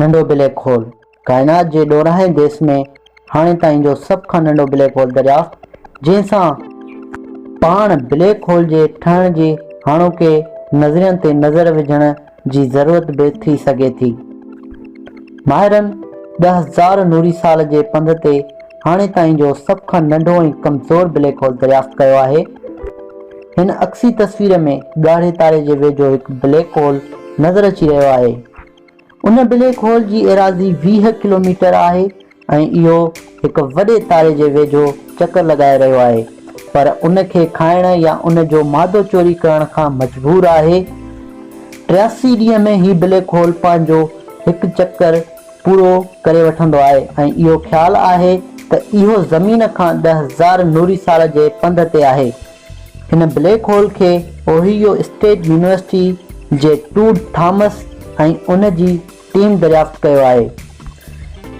ننڍو black hole, ڪائنات جي ڏورانهين ديس ۾ هاڻي تائين جو سڀ کان ننڍو بليڪ هول دريافت، جنهن سان پاڻ بليڪ هول جي ٺهڻ جي هاڻوڪي نظرين تي نظر وجهڻ جي ضرورت به ٿي سگهي ٿي. ماهرن ڏهه هزار نوري سال جي پنڌ تي هاڻي تائين جو سڀ کان ننڍو ۽ ڪمزور بليڪ هول دريافت ڪيو آهي. هن عڪسي تصوير ۾ ڳاڙهي تاري جي ويجهو هڪ بليڪ هول نظر اچي رهيو آهي. ان بليڪ هول جي ايراضي ويهه ڪلوميٽر آهي ۽ اهو هڪ وڏي تاري جي ويجهو چڪر لڳائي رهيو آهي پر ان کي کائڻ يا ان جو مادو چوري ڪرڻ کان مجبور آهي. ٽياسي ڏينهن ۾ هي بليڪ هول پنهنجو هڪ چڪر پورو ڪري وٺندو آهي ۽ اهو خيال آهي ته اهو زمين کان ڏهه هزار نوري سال جي پنڌ تي آهي. هن بليڪ هول کي اوهيو اسٽيٽ يونيورسٽي جي ٽوڊ ٿامس ۽ ان جي ٽيم دريافت ڪيو آهي.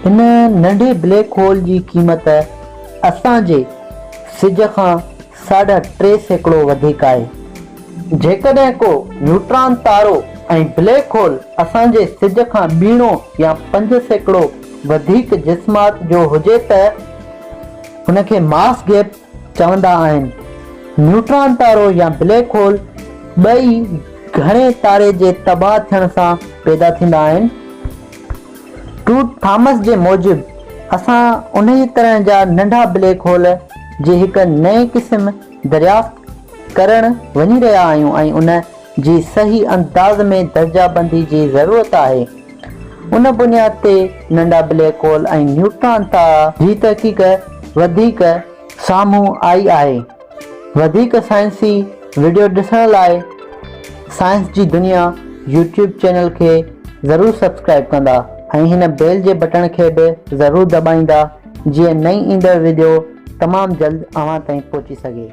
ان ننڍي بليڪ هول جي قيمت اسان جي سج کان ساڍا ٽي سيڪڙو وڌيڪ آهي. جيڪڏهن ڪو نيوٽران تارو ۽ بليڪ هول اسان جي سج کان ٻيڻو يا پنج سيڪڙو وڌيڪ جسمات جو هجي ته ان کي ماس گيپ چوندا آهن. نيوٽران تارو يا بليڪ هول ٻئي گهڻي تاري جي تباهه ٿيڻ سان پيدا ٿيندا آهن. ٽوٽ ٿامس جي موجب اسان انهيء طرح جا ننڍا بليڪ هول جي هڪ نئين قسم دريافت ڪرڻ وڃي رهيا آهيون ۽ ان جي صحيح انداز ۾ درجه بندي جي ضرورت آهي. ان بنياد تي ننڍا بليڪ هول ۽ نيوٽران تارا جي تحقيق وڌيڪ سامهون آئي آهي. وڌيڪ سائنسي وڊيو ڏسڻ لاء سائنس جي دنيا يوٽيوب چينل کي ضرور سبسڪرائب ڪندا ۽ هن بيل جي بٽڻ کي به ضرور دٻائيندا جيئن نئين ايندڙ وڊيو تمام جلد اوهان تائين پهچي سگهي.